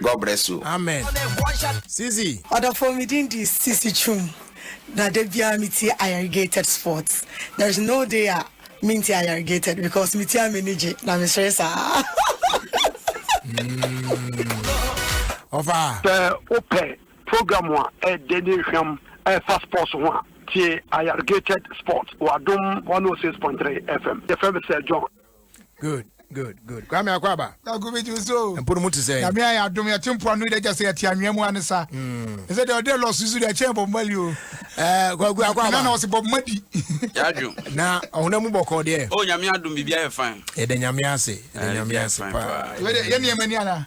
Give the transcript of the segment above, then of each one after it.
God bless you. Amen. Sisi. Ɔdɔfoɔ me din di Sisi Twum na da biara me tie ayarigated sports there is no day a me nti ayarigated because me tie me ni gye na me sere saa. Ɔfa. Hmm. Sɛ wopɛ program a ɛdɛ ne nhwam ɛfa sports ho a tie ayarigated sports wɔ adom 106.3 FM yɛfrɛ me sɛ John. good good good kwame akɔ aba. kaku bi ju so. mpo no mu ti sɛ. nyame ayɛ adum yɛte mpo ano de gya sɛ yɛte anwea mu ane sa. Hmm. ɛsɛ deɛ ɔde lɔs susu deɛ ɛkyɛn bob mali o. ɛɛ kaku akɔ aba. nana ɔsi bob madi. yadu. na ɔhuna mu bɔkɔ deɛ. o nyame adum bibi ayɛ fan. yɛde nyame ase yɛde nyame ase paa. yɛ nneɛma ni ana.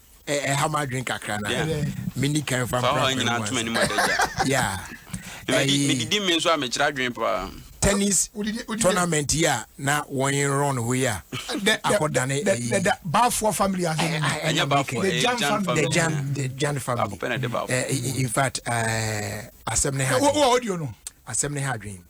ɛha m adwene kakra no meni kan fa mprapramedidi me nso a mekyerɛ adwene paa tennis tournament yi a na wɔn run hɔ yi a akɔdane ɛyi baafoɔ family ase eh, eh, ɛnyɛ baafoɔ the jan family the jan the jan family eh, in fact asɛm ne ha asɛm ne ha adwene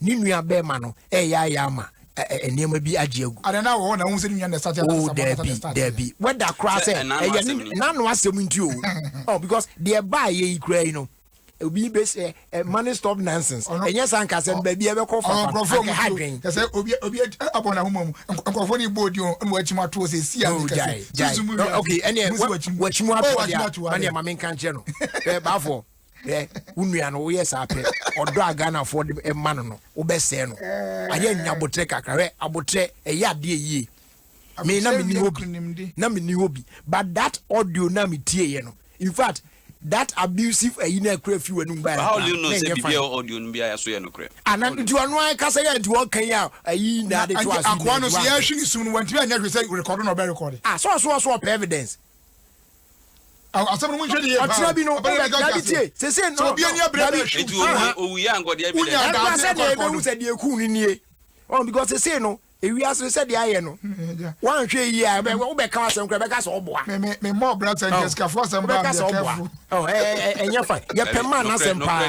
ne nua bɛrima no ɛyɛ ayɛ ama nneɛma bi agye agu. ada na wɔwɔ na wɔn sɛ ne nua na ɛsate ata sɛ dɛbi dɛbi wɛda koraa sɛ ɛyɛ ne n'ano asɛm nti o oh because deɛ baa yɛ yi kura yi no obi bɛ sɛ ɛ money stop nonsense ɛnyɛ san kasa no baabi ɛbɛkɔ fa fa aka ha dwen. ɛsɛ obi obi abɔ na ahoma mu nkurɔfoɔ ni bɔ odi o ɛna wɔakyi mu ato ɔsɛ si a mi kasi susu mu wi ok ɛni ɛ wɔakyi mu ato ɔdi a mani ɛma mi nka nkyɛn no ɛ baafoɔ. hwɛ wo nua no woyɛ saa pɛ ɔdɔ a ghanafoɔ de ma no no wobɛsɛe no ayɛ nya abotrɛ kakra hwɛ abotrɛ ɛyɛ adeɛ yie me na menni hɔ bi na menni hɔ bi but that audio na metieeɛ no in fact that abusive ayi na akura fi wɔ anum baayɛ kan na ɛnyɛ fan audio no biara so yɛ no korɛ ana nti ɔno ara kasa yɛ nti wɔn kan yɛ a ayi na ade to ase akoa no so yɛhwe ne sum no wɔntumi anyɛ hwɛ sɛ rekɔdo na ɔbɛ rekɔde ah so ɔso ɔso ɔpɛ evidence asɛm no mu nhwɛ ni yie paa. Ɔkyerɛ bi no, Abɛn yɛ ne ka dade tie. Sese no, obi ani abere abere ahwɛ. Eti owu owu yɛ ankɔdeɛ bi dɛ. Ɛkura sɛ deɛ ebehu sɛ deɛ eku no nie. Ɔn because sese no, ewiase no sɛ deɛ ayɛ no, wanhwɛ yie a, ɔbɛ ɔbɛ ka asɛm kura, ɔbɛka sɛ ɔboa. Me me me mɔ ɔbra sɛ nkyɛn sikafo asɛm baa mi yɛ kɛfu. Ɛnyɛ fa, yɛ pɛ maa n'asɛm paa.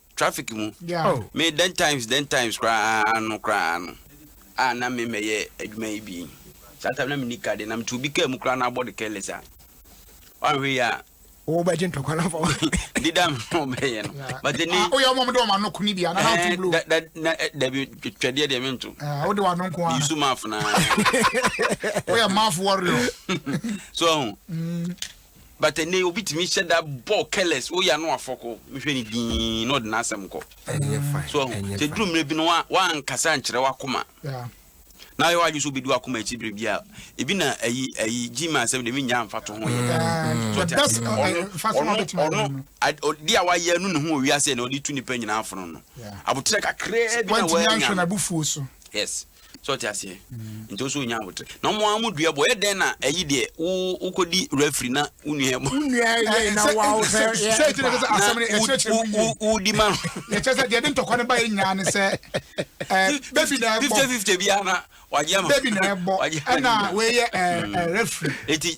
traffic mu me then times then times koraa no koraa no a na me mɛyɛ adwuma yi bi saa time na me nika de na me tu bi kaa mu koraa na abɔ de careless a wanhwɛ yi a wobɛgye ntɔkwa no fam deda mobɛyɛ no but ne ah, woyɛ ɔmɔm de ɔma no ko ne bia na nato blo dabi twɛdeɛ deɛ mento ah, wode wano nko a yusu maf na woyɛ maf warrior so ɔho mm. but ɛnɛ obi tumi hyɛ da bɔ careless woyɛ ano afɔko nhwɛ ne din na ɔde n'asɛm kɔ so ɔho sɛ duru mmerɛ bi no wankasa nkyerɛ wakoma na yɛ wadwo so bɛdi wakoma akyi berɛ bi a ebi na ayi ayi gyima asɛm de menya mfa to ho yɛ ɔno de a wayɛ no ne ho ɔwiase na ɔde tu nipa nyinaa fono no aboterɛ kakraa bi na wanya yes so ɔte aseɛ nti ɔsɛ ɔnya abotrɛ na ɔmo ara mo dua bɔ yɛ dɛn na ɛyi deɛ wo wokɔdi refri na wo nua bɔ wodi ma no ɛkyɛ sɛ deɛ de ntɔkwa no ba yɛ nyinaa ne sɛ baby na ɛbɔ fifty fifty biara na wagye ama baby na ɛbɔ ɛna wɔyɛ refri eti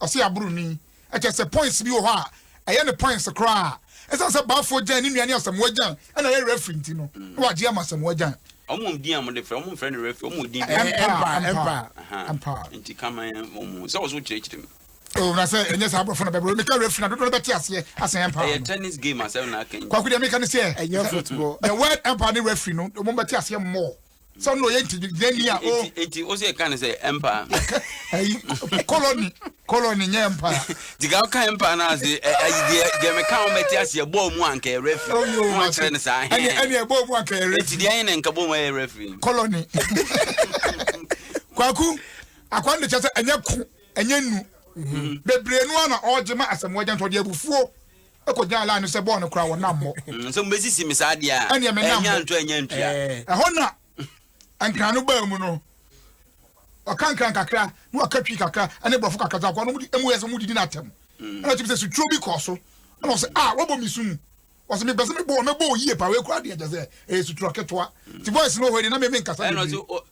ɔse aboro ni. Ɛkyerɛ sɛ points bi wɔ hɔ a ɛyɛ no points koraa a ɛsiane sɛ Baafoɔ Gyan ne nua ne Asamoah Gyan na ɛyɛ referee nti no na wagye ama Asamoah Gyan. Wɔn din a wɔde frɛ wɔn mfrɛ no referee wɔn wɔ din bi. Ɛmpa ɛmpa ɛmpa. Nti kama yɛn wɔn mu sɛ wɔn so kyerɛkyerɛ mu. Oh, na sɛ ɛnyɛ saa aborɔfo na bɛbrɛ meka referee na dodoɔ no bɛte aseɛ asɛn ɛmpa. Ɛyɛ tennis game asɛm na aka yi. Kwaku deɛ meka ne sɛ ɛnyɛ football. The word ɛmpa ne referee no wɔn bɛte aseɛ more. sɛ ɔno ɔyɛ ntigyidani a o. nti o sɛ ɛka ne sɛ empire. ɛyi koloni koloni nyɛ empire. tiga ɔka empire no ase ɛyi deɛ deɛ meka wɔn bɛte ase ɛbɔɔ mu anka yɛ referee wɔn oh, akyerɛ ne saa hɛn ɛne ɛne ɛbɔɔ mu anka yɛ referee eti deɛ yɛn na nka bɔɔ mu ɛyɛ referee. koloni kwaku akwa ne kyɛ sɛ ɛnyɛ ko ɛnyɛ nu mhm. bebree no a na ɔregye ma asɛm wɔgya ntɔde abufuo. Kɔ gyan line no sɛ bɔɔ no koraa wɔ nam mɔ. Mm, sɛ mobɛsisi me saa deɛ a. Ɛneɛ me nam mɔ. Ɛnya nto ɛnya ntua. Ɛhɔ na nkran no baa mu no. Ɔka nkran kakra na waka twi kakra ɛne borɔfo kakra dza kɔ no mu yɛ sɛ mo didi no atɛm. Mm. Ɛna ɔtumi sɛ suturo bi kɔɔ so. Ɛna ɔsɛ a ah, wabɔ me su mu. Ɔsɛ me bɛsɛ me bɔ me bɔ yie pa wei kura deɛ kyɛ sɛ ɛyɛ sutura ketewa. Ti voice no hɔ deɛ na me me nkasa bebree.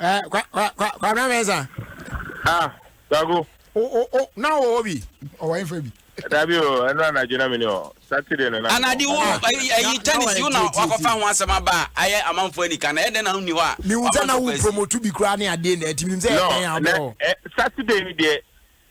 Eh, kwa, kwa, kwa, kwa mena mesa. Ah, Kwaku. O, o, o, na o o bi. O wa infa bi. Dabi o, eno anadwo na mene o. Saturday no na. Anadi wo ayi tennis wo na wakofa ho asem aba ayɛ amanfo anika na ɛdɛ na ho ni hɔ a. Me hu sɛ na wo promote bi kura ne ade na ɛti me hu sɛ ɛbɛn abɔ. Saturday ni deɛ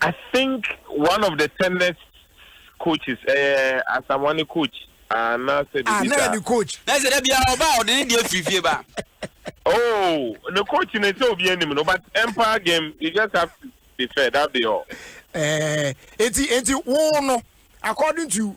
I think one of the tennis coaches ɛyɛ eh, Asamoah ne coach anaasɛ biribi saa. Ah na yɛ ne coach. Na sɛ da biara ɔba a ɔde ne deɛ firi fie ba. Oh, the coach in so be enemy no, but empire game you just have to be fair. That be all. Eh, eti eti wo no according to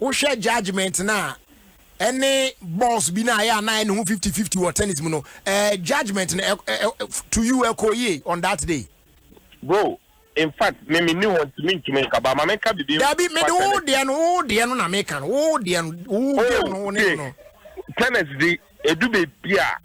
Wohwɛ judgement no a, ɛne balls bi no a ɛyɛ a na ɛne ho fifty fifty wɔ tennis mu no, eh, judgement no, eh, eh, eh, to you ɛkɔɔ yie on that day? Bro, in fact, me menni hɔ nti mentumi nka, but ma menka biribi mfa Dabi, mede wo tennis. deɛ no, wo deɛ no na meka no, wo deɛ no, wo game Oh, no, wo ne no tie, no. tennis di, edu baabi a.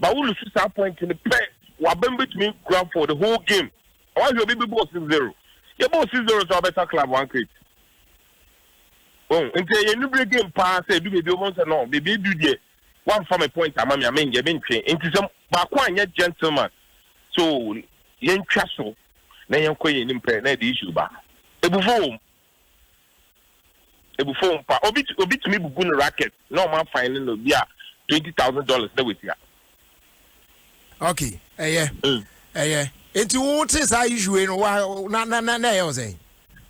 Ba wo lose saa point no pɛ waban betumi kura for the whole game na wahwɛ obi bebɔɔ six zero yɛbɔɔ six zero so abɛsa club one crate wɔn nti ɛyɛ nubire game paa sɛ edu beebi wɔn sɛ no beebi edu deɛ wamfa me point ama me ame yɛ me ntwe nti sɛ baako anyɛ gentleman so yɛntwa so na yɛnkɔ yɛn anim pɛ na ɛde issue ba ebufo wɔm Ebu fɔɔ mpa. Obi obi tumi bubu no racket na ɔmo afan no no bi a twenty thousand dollars na watua. Okay, ɛyɛ. Mm. Ɛyɛ. Eti wo te saa issue wei no wa na na na na ɛyɛ wo sɛn?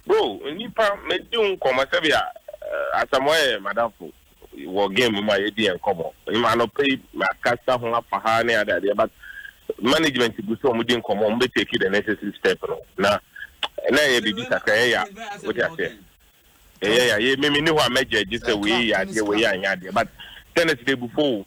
Bro, nipa medi wo nkɔmɔ sɛbi a eh, asamoah yɛ madamfo. wɔ game mu a yɛdi yɛn nkɔmmɔ. Ɛma anɔpa yi makasa ho afa ha ne ade adeɛ but management gu sɛ wɔdi nkɔmmɔ wɔn bɛ take the necessary step no na na ɛyɛ biribi kakra ɛyɛ ya wote aseɛ ɛyɛ ya yɛ mimi ne hɔ a mɛgya agye sɛ wei yɛ adeɛ wei anyɛ adeɛ but tennis de bu fo o.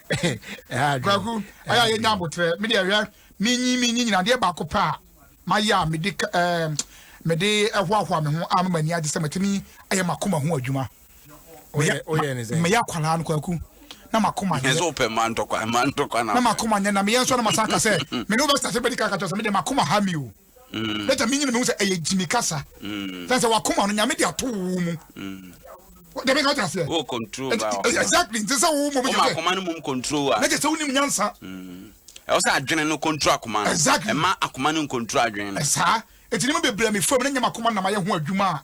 kwaku ɛyɛ yɛ nya abotrɛ mi deɛ hwɛ mi nyi mi nyi nyina deɛ baako pɛ a ma yɛ a mi de ɛɛ mi de ɛhoahoa mi ho a mi ni agye sɛ mi ti mi ɛyɛ ma kɔma ho adwuma mi yɛ akwaraa no kwaku na ma kɔma nyɛ ɛsɛ ɔpɛ ma ntɔkwa ma ntɔkwa na na ma kɔma nyɛ na mi yɛ nsɔ na ma san ka sɛ mi ni o bɛ sase bɛ di kakatɔ sɛ mi de ma kɔma ha mi o. na gya menyi no mehu sɛ ɛyɛ gyimi kasa na sɛ wakoma no nyame de ato wo mu dɛmɛ ka ɔtena seɛ wo control ba wa exactly nti sɛ wo mom yɛ akoma no mom control wa na gya sɛ wonim nyansa ɛwɔ sɛ adwene no control akoma no exactly ɛma akoma no control adwene no ɛsaa ɛti ne mu bebree me fam na nyama akoma nam ayɛ ho adwuma a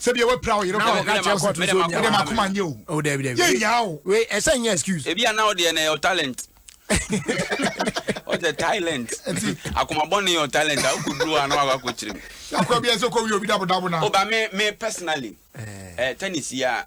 sɛ bia wapira wo yere kɔ ɔka kyerɛ kɔ to so nya wode makoma nyɛ o oh dabi dabi yɛ nya o we ɛsɛ nyɛ excuse ebi ana wo deɛ na ɛyɛ talent ɔtɛ talent akoma bɔ ne yɛ talent a wokɔ duro a na wakɔ akɔ kyerɛ mu akɔ bi ɛsɛ kɔ wi obi dabo dabo na o ba me me personally ɛɛ eh, eh, tennis yi a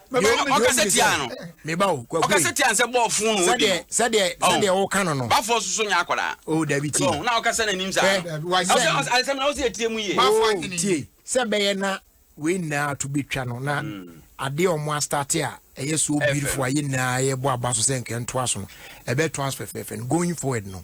Meba ɔka sɛ tia no. Meba o kwaku. Ɔka sɛ tia sɛ bɔɔ fun no odi. Sɛdeɛ sɛdeɛ sɛdeɛ o kan no no. Bafo soso nya akɔda. O dabi ti. Na ɔka sɛ na nim sa. Ɔsɛ ɔsɛ na ɔsɛ etie mu yie. Bafo anyini. Tie sɛ bɛyɛ na wei nyinaa to bi twa no na adeɛ a wɔn astate a ɛyɛ so beautiful a yɛ nyinaa yɛbɔ aba so sɛ nkɛntoa so no ɛbɛ to us fɛfɛɛfɛ no going forward no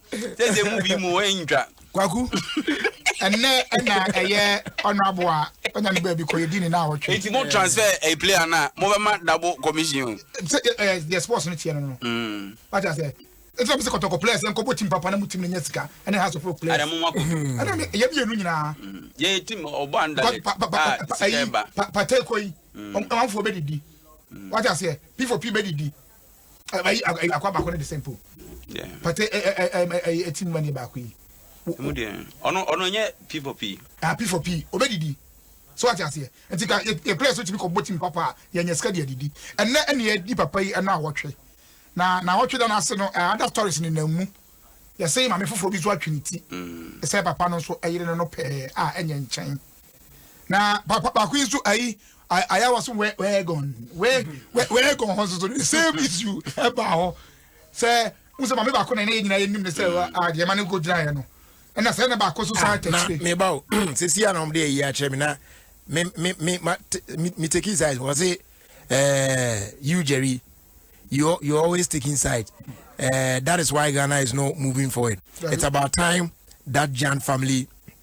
sɛ sɛ mu bi mu ɛntwa kwaku ɛnɛ ɛna ɛyɛ ɔno abo a ɔnya ne baabi kɔ yɛdi ne na awɔtwe nti mo transfer a player no a mobɛma double commission sɛ ɛɛ deɛ sports no teɛ no no mm. wate asɛ ɛsɛ bi sɛ kɔtɔkɔ players ɛnkɔ bɔ tim papa na mu tim no nya sika ɛne ha sɔfo players ɛna mo ma kɔ mm. ɛna ne ɛyɛ mmienu nyinaa mm. yɛ tim ɔbɔ anda lɛ a sika ɛba patɛ kɔ yi ɔmanfoɔ bɛ didi wate asɛ p for p bɛ didi ayi ayi akwa baako ne de sɛ mpo pate ɛ ɛ ɛ ɛ ɛti mu ma ne baako yi. emu deɛ ɔno ɔno nyɛ p for p. ah p for p obedidi so ati aseɛ nti ka yɛ yɛ players otumi kɔ bɔ team papa a yɛ nyɛ sika deɛ didi ɛnɛ ɛna yɛ di papa yi ɛna awɔtwe na na awɔtwe da n'ase no ɛɛ ada stories ne nan mu yɛsɛ maame foforɔ bi nso atwe ne ti ɛsɛ papa no nso ɛyere no no pɛɛ a ɛnyɛ nkyɛn. na papa baako yi nso ayi ayɛ wɔ so wɛ wɛɛgɔn wɛ wɛ wɛɛgɔn hɔ nso so the same issue ɛbaa hɔ sɛ n sɛ maame baako na ɛna yɛ nyinaa yɛ nim ne sɛ adeɛ ma ne nko gyina yɛ no ɛna sɛ ɛna baako nso saa tɛkyire. na meba o sisi a na wɔn de ayi akyerɛ mi na mi mi mi ma mi mi take inside wɔ se ɛɛ you jerry you you always take inside ɛɛ that is why ghana is not moving forward it's about time that jan family.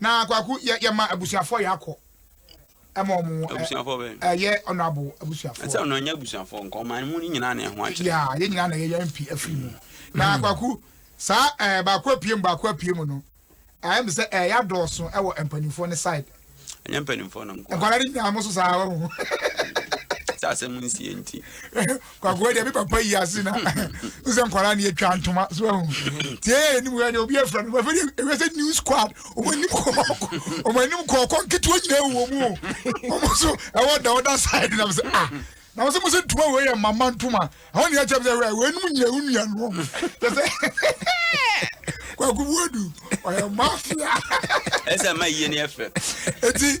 Na kwaku yɛ yɛ ma abusuafoɔ yɛ akɔ ɛma ɔmo ɛ Abusuafoɔ bɛn? ɛyɛ ɔnɔabo Ɛsɛ abusuafoɔ ɔno ɛnyɛ abusuafoɔ nka ɔman mu no nyinaa na ɛho akyerɛ. yaa yɛn nyinaa na yɛyɛ mpi afiri mu na kwaku saa ɛɛ baako apue mu baako apue mu no ɛyɛ mi sɛ ɛyɛ adɔɔso ɛwɔ mpanimfoɔ ne side Ɛnyɛ mpanimfoɔ no nko a. nkwadaa no nyinaa mo so saa wɔn Sɛ asɛm nsie nti. kwakoa deɛ me papa yi ase na wosɛ nkwadaa ne yɛtwa ntoma so ahu tie yɛ anim yɛ deɛ obi afira no bɛfɛ deɛ ɛwɛ sɛ new squad ɔmo anim kɔɔkɔ ɔmo anim kɔɔkɔ nketewa nyina ɛwɔ mu ɔmo so ɛwɔ da ɔda side na sɛ ah na wɔsɛ mo sɛ ntoma wei yɛ mama ntoma ɛhɔ ne yɛkyɛ sɛ wei nom nyina wo nua no kyɛ sɛ kwakobuadu ɔyɛ mafia ɛsɛ ma yie ne ɛfɛ ɛti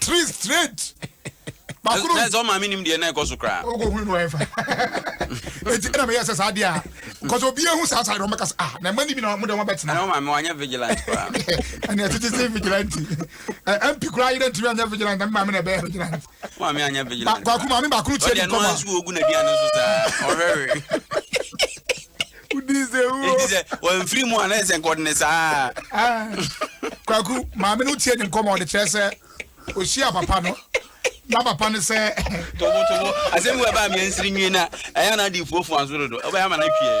three straight baako no. na sɛ ɔmaame nim deɛ na ɛkɔ so koraa. o ko hun no ɛfa eti ɛna mi yɛ sɛ saa deɛ a nkɔsɔ obi ehu saa saa deɛ ɔmo kasa ah na ɛma ni mi na ɔmo deɛ ɔmo bɛ tena. ɛna ɔmaame wanyɛ vigilante koraa. ɛna ɛtete se vigilante ɛ ɛmpi koraa ayɛ dɛ ntumi anyɛ vigilante ɛmi maame na ɛbɛyɛ vigilante. ɔmaame anyɛ vigilante. baako maame baako no tiɛ ni nkɔmɔ. ɔdeɛ no wɔn nso ogu na aduane nso saa ɔhwɛwe. wodii sɛ wuo enti sɛ wɔamfiri mu a na ɛsɛ nka ɔde ne saa ah, kwaku maame no tie ne nkɔmmɔ ɔde kyerɛ sɛ ɔhyia papa no na papa no sɛ tobotobo asɛm bi wɔ ɛbaa meɛ nsiri nwie na ɛyɛ na ade fuafua nso dodo wobɛyɛ ama no atwiɛ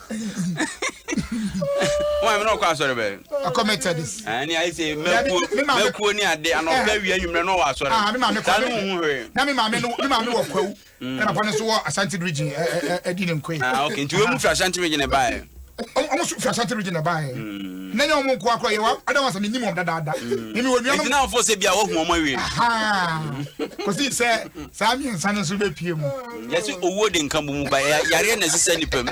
wọn mi na ɔkɔ asɔre bɛ. ɔkɔ methodist. ɛni ayi se mɛkuo mɛkuo ni ade anɔfɛ wia enyimrɛ na ɔwɔ asɔre. aa mi maame kɔ sanu ohun hwee. na mi maame no mi maame wɔ kwawu. ɛna papa no so wɔ asante region ɛ ɛ ɛdi ne nkoe. aa ok nti wɔn mu fi asante region ɛbaa yɛ. wɔn so fi asante region ɛbaa yɛ. na nyɛ wɔn nko akora yɛ wa adan wɔn sɛ mi nim wɔn dadaada. mi mi wɔ nua no. ntina afɔ sɛ bi a wɔhu wɔn awie. kò si sɛ saa mmiɛnsa no nso bɛ pie mu. yɛse oh. owuo de nka bomu ba yareɛ na ɛsesɛ nipa mu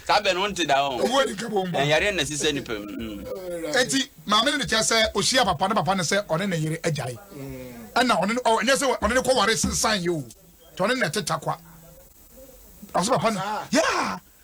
saa bɛn no nte da ho owuo de nka bomu ba yareɛ na ɛsesɛ nipa mu mm. eti maame no de kyɛ sɛ ohyia papa ne papa ne sɛ ɔne ne yere agyae mm. ɛna ɔne no ɔnyɛ sɛ ɔne no kɔware sensan yɛ o tɔne na ɛte takwa ɔsɛ papa no yaa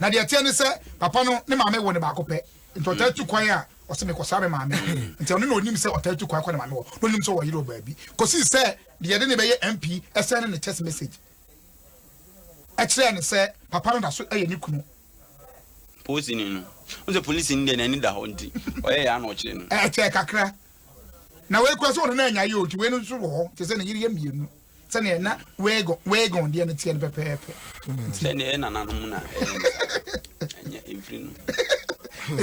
Na deɛ ɛteɛ ne sɛ, papa no ne maame woo no baako pɛ, nti ɔtaa tu kwan a ɔse mekɔsra me maame no. Nti ɔno na ɔnim sɛ ɔtaa tu kwan kɔ ne maame hɔ, na ɔnim sɛ ɔwɔ yere wɔ baabi. Kɔsii sɛ deɛ yɛde no bɛyɛ MP sɛne ne text message kyerɛɛ no sɛ papa no da so yɛ ne kunu. Polisini no, wohu sɛ polisini deɛ n'ani da hɔ nti ɔyɛ yɛ a na ɔkyere no. Ɛkyɛɛ kakra, na wei kura sɛ ɔno na anyaeɛ o, nti wei no nso wɔ hɔ te sɛ ne yere yɛ mmienu. Sɛdeɛ na Wagon Wagon deɛ no teɛ no pɛpɛɛpɛ. Sɛdeɛ yɛ nananom na ɛyɛ no saa. Ɛnyɛ ɛmfiri no.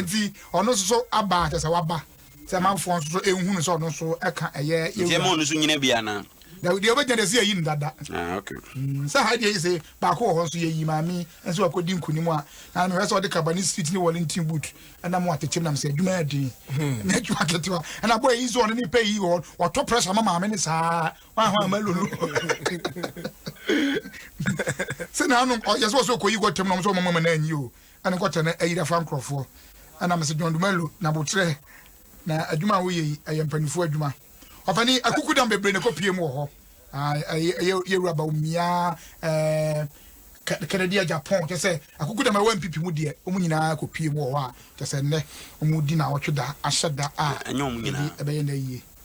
Nti ɔno nso so aba a kyerɛ sɛ waba sɛ amanfoɔ nso so nhunu sɛ ɔno nso ɛka ɛyɛ yɛwura. Nti ɛma ɔno nso nyina bi anaa? Dabi deɛ ɔbɛgyina deɛ sɛ yɛyi no dada. Ah, okay. Mm, sɛ ha deɛ sɛ baako wɔ hɔ nso yɛyi maame nso wakɔdi nkonim a na mehwɛ sɛ ɔde kaba ne street ne wɔlenten boot ɛna mo atekyem nam sɛ adwuma yɛ den hmm. na adwuma ketewa ɛna bɔ yi nso ɔno ne pɛ yi wɔ wɔtɔ pressure ma maame ne saa wahɔ ama lolo sɛ naanom ɔyɛ sɛ ɔsɛ ɔkɔyi kɔtɛm nom sɛ ɔmamama no anyi o ɛne kɔtɛ no ayira fa nkurɔfoɔ ɛna mesɛ john dumalo na botrɛ na adwuma a woyɛ yi ɛyɛ mpanimfoɔ adwuma ɔfani akuku dam bebree na ɛkɔpie mu wɔ hɔ yɛwura ba omiaa kɛnɛdeɛ japan kyɛ sɛ akuku dam ɛwɔ mpipi mu deɛ ɔmu nyinaa kɔpie mu wɔ hɔ a kyɛ sɛ nnɛ ɔmu di na ɔtwe da ahyɛ da a ɛbɛyɛ na yie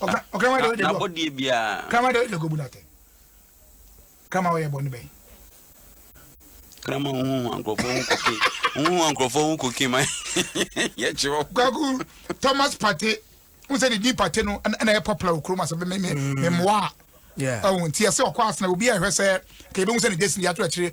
n'abɔdeɛ biara krama deɛ wode kɔbu no atɛn krama wɔyɛ bɔne bɛn krama wohu ankurɔfoɔ ho kɔke wohu ankurɔfoɔ ho kɔke ma yɛkyerɛ kwaku thomas pate wo sɛ ne din pate no ɛna yɛ popular wɔ kurom asɛ memmoa a ɛwo nti ɛsɛ ɔkɔ asena obi a ɛhwɛ sɛ ka yɛbɛhu sɛ ne gyesi de ato akyire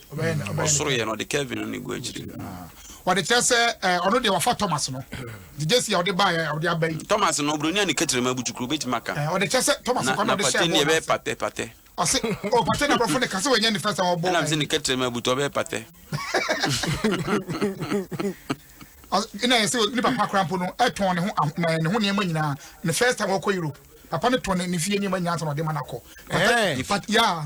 ɔbɛyɛ ne ɔbɛyɛ ne ɔsoro yɛ no ɔde kevin no ne gu akyiri ɔde kyerɛ sɛ ɛɛ ɔno deɛ wafa thomas no nti jesi a ɔde ba yɛ ɔde aba yi thomas no buroni a ne kɛtɛrɛma abutukuro bɛtumi aka ɛɛ ɔde kyerɛ sɛ thomas na kɔ na na ɔde hyɛ patɛ ne bɔɔl ɛbɛyɛ n'ase patɛ patɛ ɔse o pate na aborɔfo ne ka sɛ wɔnyɛ ne fɛ sɛ ɔbɔ ɛnam sɛ ne ɛyi kɛtɛrɛma abutu ɔbɛyɛ patɛ Ɔse- na yɛ sɛ ne papa kora mpo no ɛtɔn ne ho aho- na ne ho nneɛma nyinaa ne first time ɔkɔ europe papa no tɔn ne- ne fie nneɛma nyinaa sɛ na ɔde ma no akɔ Pate- Ɛɛ. pat- ya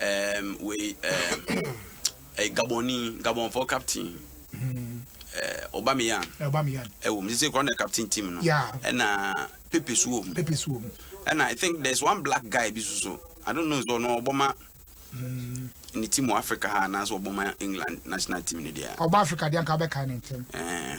ɛɛm, wei ɛɛm, ɛɛ Gabonni, Gabonfoɔ captain. ɛɛ Aubameyang. Aubameyang. ɛwɔ mu sisi kura na captain team no. Yeah. ɛna Pepe so wɔ mu. Pepe so wɔ mu. ɛna I think there is one black guy bi soso I don't know so ɔno ɔbɔ ma. Mm. ne team wɔ Africa ha anaasɛ ɔbɔ ma England national team no deɛ. ɔbɔ Africa deɛ nka bɛka ne ntɛm. ɛɛ.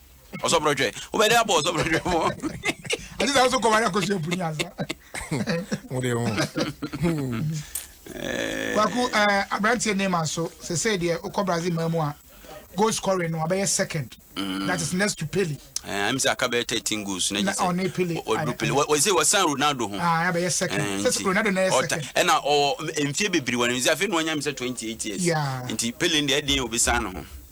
ɔsɔbrɔdwɛ wobɛde abɔ ɔsɔbrɔdwɛ mɔ ɛte sɛ wo so kɔware akɔsua puni asa wode ho kwaku aberanteɛ nema so sɛ sɛ deɛ wokɔ brazil ma mu a goal scoring no abɛyɛ second mm. that is next to pele ɛm sɛ aka bɛyɛ 13 goals na gye sɛ ɔne pele ɔduru pele wɔsɛ wɔsan ronaldo ho abɛyɛ second sɛ ronaldo na yɛ second ɛna ɔwɔ mfie bebree wɔ ne mfie afei na ɔnya me sɛ 28 years nti pele deɛ ɛdeɛ obɛsan no ho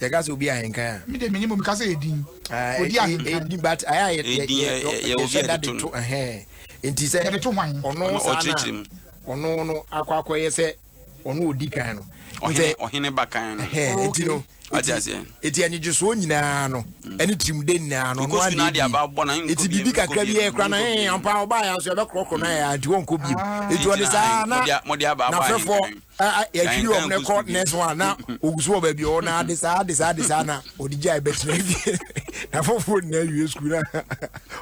Yɛ ka sɛ obi ahenkan a. Me deɛ menim o, meka sɛ ɛdin, odi ahenkan. Ɛdin but ayɛ a yɛhyɛ da de to ɛhɛn, nti sɛ ɔno saa na ɔno no akɔ akɔyɛ sɛ ɔno odi kan no. Ɔhene ba kan no. Nti no, ɛti anigyesoɔ nyinaa no, ɛne tirimde nyinaa no, ɔno adeɛ bi. Ɛti biribi kakra bi ɛkora no, ɛmpa ɔbaa yɛ nso ɛbɛkorɔkorɔ no ayɛ, nti wɔnkɔ bio. Ɛti ɔde saa na n'afɛfoɔ yɛtwiri wɔn no kɔ next one na ogu so wɔ baabi ɔwɔ na ade saa ade saa ade saa na ɔde gya ɛbɛtena fie na foforɔ nyinaa wie sukuu na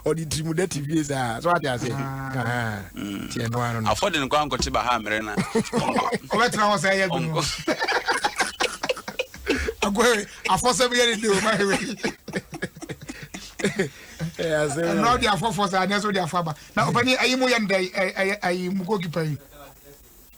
ɔde tirimu dɛ te fie saa so ate ase tiɛ no ano no afɔde no kɔ ankɔte ba ha mmerɛ na ɔbɛtena hɔ sɛ ɛyɛ bi no agoe afɔsɛm yɛ ne de o ma hewe ɛnna ɔde afɔfɔ saa ɛnna ɛsɛ ɔde afɔ aba na ɔpɛ ni ayi mu yɛ ne dɛ ɛyɛ ayi mu goalkeeper yi.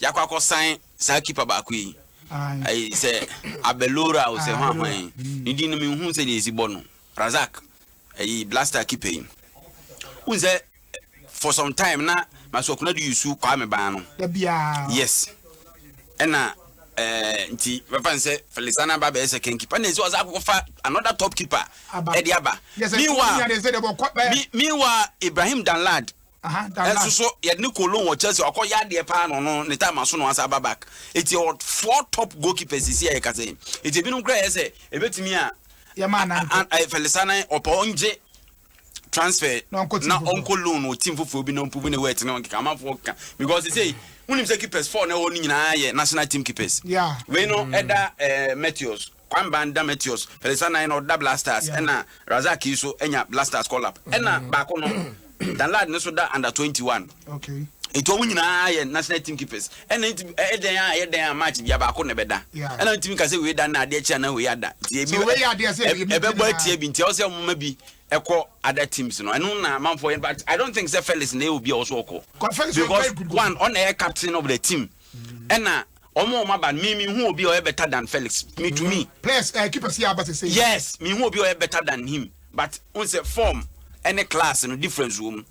Yakɔ akɔ sign saa keeper baako yi. Ayi sɛ Abelora o sɛ hwan hwan yi. Ne din no menhu sɛ deɛ esi bɔ no. Razak. Ayi blaster keeper yi. Wohu sɛ for some time na Masuakuna de yusu Kwame ban no. Yes. Ɛna eh, nti bɛfa ne sɛ Felisana ba bɛyɛ second keeper. Ɛna ɛsɛ ɔsɛ akɔfa another top keeper ɛde aba. Meanwhile, meanwhile Ibrahim Danlad Nso so yɛde ne Cologne wɔ Chelsea ɔkɔ yɛ adeɛ paa na ɔno ne time aso na wasa aba back eti ɔwɔ four top goalkeepers sisi a yɛka sɛ eti ebinom kura yɛ sɛ ebetumi a Fɛlisane ɔpɛ ɔngye transfer na ɔnkɔ loan wɔ team foforɔ bi na ɔmpubu ne wet na ɔnkeka amanfoɔ ka because sɛ wonim sɛ keepers four na ɛwɔ no nyinaa yɛ national team keepers wei no ɛda eh, Matthews Kwamban Dameteus Pelesanai na ɔda Blasters ɛna Razak yi so nya Blasters call up ɛna baako no Danlad no so da under twenty one nti ɔmo nyinaa yɛ national team keepers ɛna nti ɛyɛ dɛn a ɛyɛ dɛn a match bia baako na ɛbɛda ɛna ntumi ka sɛ wei da na adeɛ kyɛ ana wei ada nti ebi ɛbɛbɔ atia bi nti ɛwɔ sɛ ɔmo ma bi ɛkɔ other teams no ɛno na amanfoɔ yɛn but I don't think sɛ Felix na ɛyɛ obi a ɔwɔ so ɔkɔ because one ɔna ɛyɛ captain of the team ɛna. Wɔn a wɔn aba no me me hu obi a ɔyɛ better than Felix me to me. Players eh keepers yɛ aba sese. Yes me hu obi a ɔyɛ better than him but n sɛ form ɛne class no difference wɔ mu.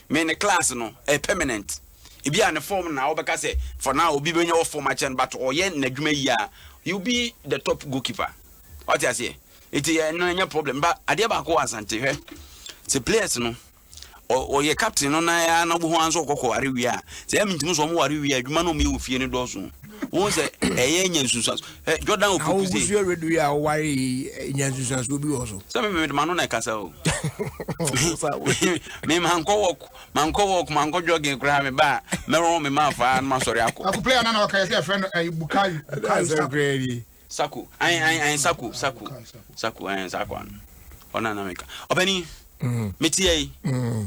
Me ne class no ɛyɛ permanent. Ebi a ne form na ɔbɛka sɛ for now obi bɛnya wɔ form akyɛn but ɔyɛ n'adwuma yie a he will be the top goalkeeper. Ɔte aseɛ? Eti ɛno ɛnyɛ problem but adeɛ baako wɔ Asante hwɛ sɛ players no. Ɔyɛ captain no nan ara na wobɛhu ara nso ɔkɔkɔ ware wie a sɛ ɛmi ntumi sɛ ɔmo ware wie a adwuma no ɔmo yɛ wɔ fie no dɔɔso wɔn sɛ ɛyɛ nya nsunsuanso ɛ Jordan opoku se. awogusu ewedu yi a ɔware yi eh, nya nsunsuanso bi wɔ so. sɛ mi mi ma no na ɛkasa o mi ma nkɔ wɔk ma nkɔ wɔk ma nkɔ jogging koraa mi ba mɛrɔn mi ma fa no ma sɔre akɔ. Akuplay ana na ɔka yɛ sɛ yɛfrɛ no ɛyi eh, bukayo bukayo sɛ koraa ni Saku, ae ae ae Saku, Saku, Saku, ae saa kwa no, ɔna na meka. Ɔpani, me te ayi,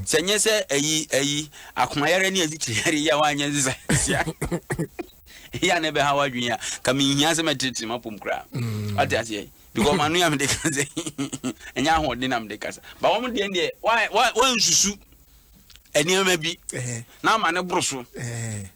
sɛ nyɛ sɛ ayi ayi akomayare ne azikyiriyare yi a wanyɛ nsa sia. Yɛ a na ɛbɛha w'adwene a, ka menhia sɛ mɛtetete m'apom koraa. Ate aseɛ? Because m'ano a mede kasa yi, ɛnyɛ ahoɔden na mede kasa. Ba wɔn deɛ deɛ, wɔn nsusu nneɛma bi na ama ne boro so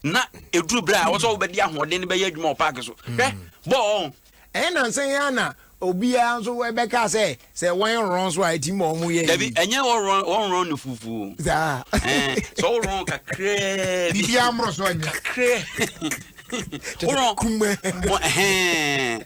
na ɛduru berɛ a wɔ sɛ wobɛde ahoɔden no bɛyɛ adwuma wɔ paake so hwɛ bɔɔ ɛyɛ nansa yi ana obiara nso ɛbɛka sɛ sɛ wɔn rɔn so a eti ma wɔn yɛ yi. dabi ɛnyɛ wɔrɔn wɔrɔn ne fufu. saa ɛɛ sɛ wɔrɔn kakraa bi. bibi amoro so anya. kakraa wɔrɔn kumɛ. ɛhɛn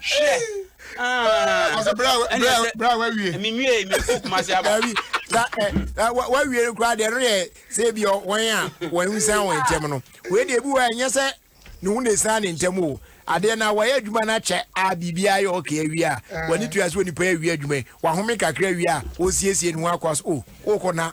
Hwɛ. Ah. Ɔsɛ bra bra bra wa wie. Mi nwie mi kɔ kuma se aba. Dabi sa ɛ eh, eh, wa wie no kura de no yɛ se bi wɔn a wɔn nsa wɔn ntɛm no. Wei de bi wɔ ɛnyɛ sɛ ne ho na esan ne ntɛm o. Adeɛ na wɔyɛ adwuma na kyɛ a biribi ayɛ ɔkè awie a wɔn ni tua so nipa awie adwuma wɔahome kakra awie a wɔsiesie ne ho akɔ so o wɔkɔ na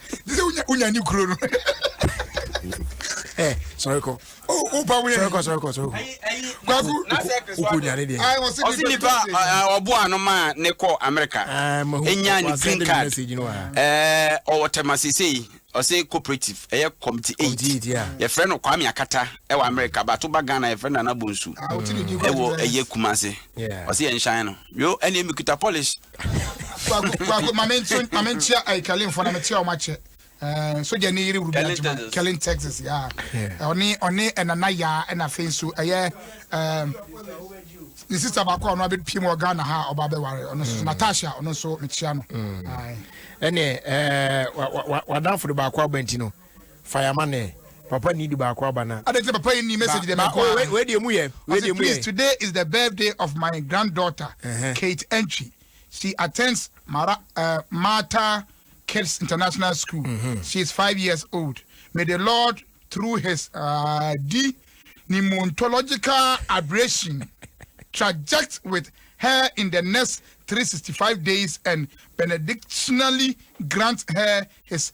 te sɛ wonya wonya ne kuro no ɛ sɔre kɔ o o ba wuli sɔre kɔ sɔre kɔ sɔre kɔ kwaku o ko nya ne deɛ ayi wɔsi ɔsi nipa ɛ, ɔbo ano ma ne kɔ america ɛɛ mahu enya ne ɔkɔ green asɛnde mi card message no wa ɛɛ ɔwɔ tɛma sesei ɔsɛ cooperative ɛyɛ committee eight committee eight, yeah. yɛfrɛ no kwame akata ɛwɔ america bato ba ghana yɛfrɛ no nana bonsu a o ti ne di kɔ ɛwɔ ɛyɛ kumase Yeah. ɔsɛ yɛn nhyɛn no Yo ɛne mi kuta polish. Kwaku kwaku mame nso mame nkyia ayi kɛlin fo na me kyia ɔmo akyɛ. Eh, sogya ni yiri rubi adwuma kɛlin texas ya ɔne ɔne ɛnana ya ɛna afei nso ɛyɛ ɛɛ ne sista baako a ɔno abɛ pie mu wɔ ghana ha ɔba abɛ ware ɔno nso mm. natasha ɔno nso me kyia no. ɛnɛ ɛɛ wadanfo de baako abɛnti no. fa ya ma ne papa ni di baako aba na. Adɛn nti na papa yi nni message deɛ mɛkɔ ara. Wei deɛ emu yɛ. Ɔse please today is the birthday of my grand daughter Kate Antwi she attends Mara eh Martha kids international school she is five years old may the Lord through his ah di pneumontological aberration traject with her in the next three sixty five days and benedictionally grant her his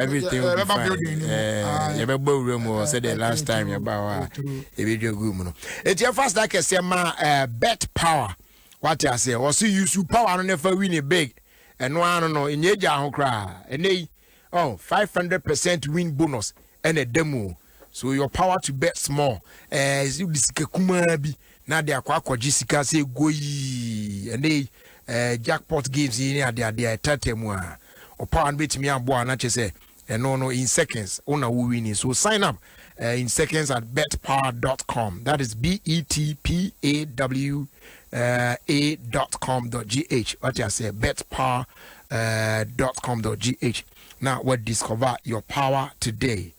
everything will be fine eh, yɛbɛbɔ awura mu hɔ sɛdeɛ last time yɛba hɔ a ɛbɛdwa gu mu no ɛti ɛfa sda kɛseɛ ma eh, bet power wate aseɛ wɔse yusu power no ne fa wini big ɛno ara no no ɛnyɛ agya ho koraa ɛnɛ yi oh, 500 percent win bonus ɛna ɛda mu so your power to bet small ɛɛ eh, sika kumaa bi na de akɔ akɔgye sika sɛ goii ɛnɛ yi ɛɛ jackpot games yi ne adeade a ɛtɛɛtɛɛ mu a ɔpawa no bɛtumi aboa na kyɛ sɛ ɛno no in seconds wo na wo winning so sign up uh, in seconds at betpower.com that is b e t p a w uh, a dot com dot g h what I say betpower uh, dot com dot g h now what discover your power today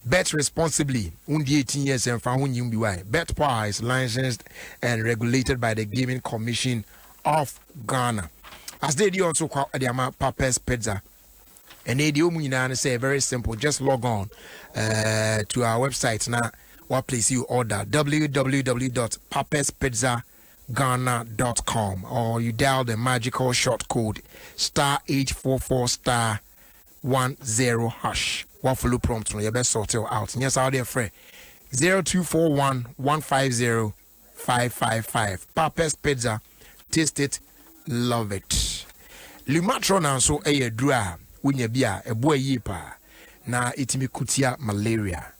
Bet responsibly, Wo ndi eighteen years a mfa ho nnyi wo mbe wai. Betpower is licensed and regulated by the Gaming Commission of Ghana. As dɛ ɛdi ɔnso kwa de ama Papers Pizza. Ɛnɛ deɛ ɔmu nyinaa no sɛ very simple just log on uh, to our website na wa place you order www.paperspizzaghana.com or you dial the magical short code star 844 star one zero hash wa follow prompt no yɛbɛ sort it out nyɛ saa ɔde frɛ zero two four one one five zero five five five Papa's Pizza taste it love it Lumatrona nso ɛyɛ aduro a wonya bi a ɛboa yie paa na ɛtumi ko tia malaria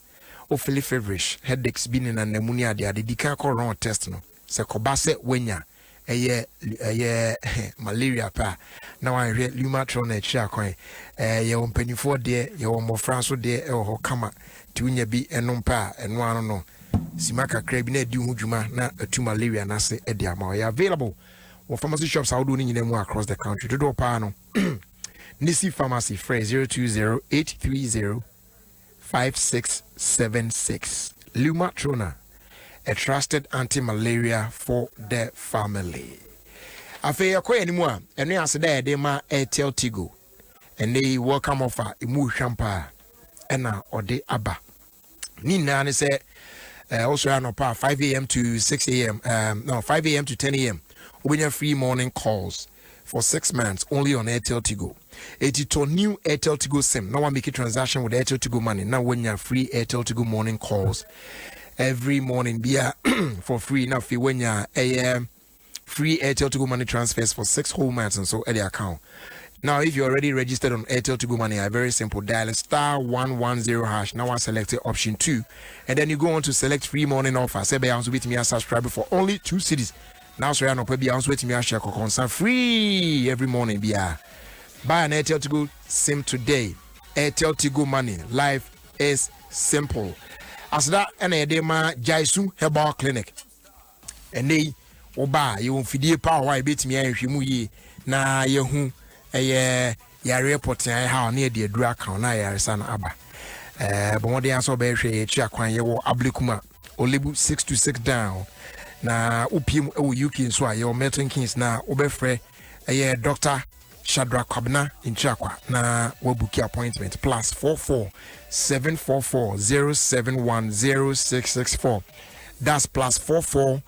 ofili feverish headaches bi ne nanamu ne adeade di kan kɔ wrong test no Sɛ ɛkɔba sɛ woanya ɛyɛ ɛyɛ malaria pɛ a, na wanhwɛ Lumatrol na akyiri akwan. Ɛɛ yɛwɔ mpanimfoɔ deɛ, yɛwɔ mmɔfra nso deɛ ɛwɔ hɔ kama. Nti wonya bi nom pɛ a, ɛno ano no, sima kakra bi na adi ho dwuma na atu malaria no ase de ama. Ɛyɛ available wɔ pharmacy shops ahodoɔ no nyinaa mu across the country. Dodoɔ paa no, Nisi Pharmacy frɛ 020830 Five six seven six, Lumatrona, a trusted anti-malaria for the family. Afei yɛkɔ yɛn anim a, ɛno yɛ aseda a yɛde ma Airtel Tigo. Ɛnɛ yi welcome offer emu ohwam paa ɛna ɔde aba. Ne nyinaa ne sɛ ɛɛ wosɔre anɔpa a five am to six am um, no five am to ten am wobɛnya free morning calls. for six months only on Airtel Tigo. Eti tɔ new Airtel Tigo sim na wa make transaction with Airtel Tigo money na wanya free Airtel Tigo morning calls every morning bia for free na afei wanya ɛyɛ free Airtel Tigo money transfers for six whole months nso ɛde account. Now if you're already registered on Airtel Tigo money, I very simple dial star one one zero hash now I select option two and then you go on to select free morning offer. Say be also bit me subscribe for only two cities. na asɔre anɔpa biara nso atumi ahyɛ kɔkɔnsa free every morning biara buy an airtel tigo sim today airtel tigo money life is simple aseda ɛna yɛde ma jaisu herbal clinic ɛnɛ yi woba a yɛwɔ mfidie paa hɔ a yɛbɛtumi ahwehwɛ mu yie na yɛhu ɛyɛ yareɛ pɔtea ɛha ne yɛde aduru aka na ayaresa no aba bɔmmɔden asɛ ɔbɛhwɛ yɛakyiri akwan yɛwɔ ablekuma O lebu six to six down na wopie mu wɔ uk nso a yɛwɔ milton kings na wobɛfrɛ ɛyɛ dr shadra kwabena ntirakwa na wabuki appointment plus 44 744 071 0664 that's plus 44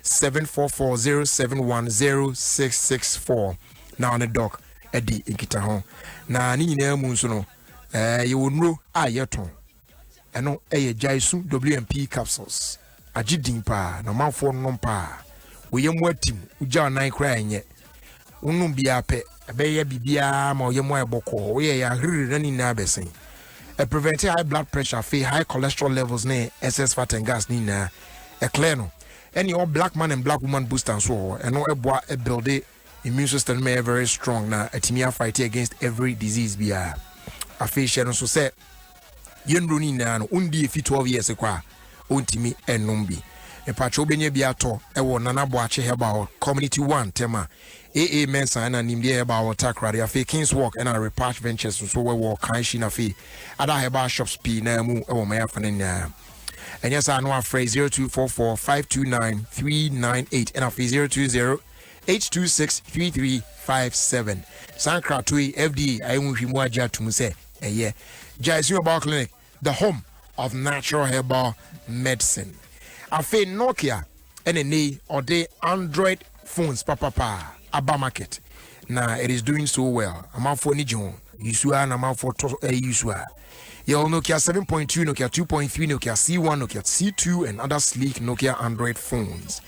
744 071 0664 na ɔne doc adi nkita ho na ne nyinaa mu nso no eh, yɛwɔ nnuro a yɛtɔn Ɛno yɛ gyae su WMP capsules. Agye din paa na ɔmanfoɔ nom paa. Woyɛ mu atim, wogya ɔnan koraa ɛnyɛ. Wonom biara pɛ, ɛbɛyɛ biribiara ma ɔyɛ mu ayɛ bɔkɔɔ. Woyɛ yɛ ahiriri na ne nyinaa bɛsen. Ɛ prevent high blood pressure afei high cholesterol levels ne excess fat and gas ne nyinaa. Ɛ clear no. Ɛne ɔ black man and black woman booster nso wɔ hɔ. Ɛno ɛboa ɛbuilde Immune system no mɛyɛ very strong na atumi a fight against every disease biara. Afei hyɛ no nso sɛ yɛn nnuro no nyinaa no wondi efi twelve years kɔ a ɔntumi nnom bi. Mepakyɛ wobɛnya bi atɔ wɔ Nana Boakye Herbal Community One ntɛm a AA Mensah ɛna Nimdeɛ Herbal wɔ Takoradi afei Kings Walk ɛna Repatch Ventures nso wɔ Kanshi na afei ada herbal shops pii naa mu wɔ ɔman afa no nyinaa. Ɛnyɛ saa no afrɛ zero two four four five two nine three nine eight ɛna afei zero two zero H two six three three five seven saa nkratoɔ yi FDA ayɛ ho nhwehwɛmu agye atum sɛ ɛyɛ Gyasi Herbal Clinic, the home of natural herbal medicine. Afei Nokia ɛna ɛnɛ yi ɔde Android phones papapa aba market na it is doing so well. Amanfoɔ ani gye ho. Yusu a na amanfoɔ tɔ ɛyi yusu a. Yɛwɔ Nokia seven point two, Nokia two point three, Nokia C one, Nokia C two and other sleek Nokia Android phones.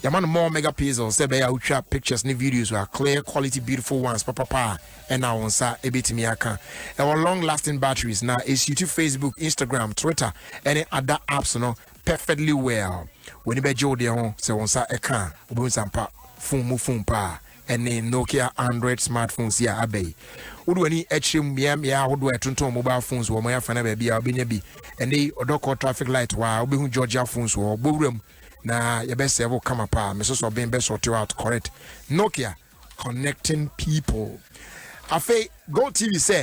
Yɛama no more megapixels sɛ ɛbɛyɛ a wotwa pictures ne videos wɔ a clear quality beautiful ones papapa a ɛna wo nsa ɛbɛtumi aka. Ɛwɔ long lasting batteries na ɛsuitu Facebook, Instagram, Twitter ɛne ada apps no perfectly well. W'ani bɛgye wo deɛ ho sɛ wo nsa ɛka a wobɛhu sampa phone mu phone paa. ɛne Nokia Android smartphones yi a aba yi. Wode w'ani kyerɛ mu mmeammea ahodoɔ a ɛtontɔn mobile phones wɔ ɔman afa no baabi a wobɛnya bi. Ɛnɛ yi, ɔdɔ kɔ traffic light hɔ a, wobɛhu Georgia phones wɔ hɔ. Bɔ wuram na yɛbɛsɛe wo kama paa. Me sosɔ ben bɛ sort you out correct. Nokia connecting people. Afei, GoTv sɛ.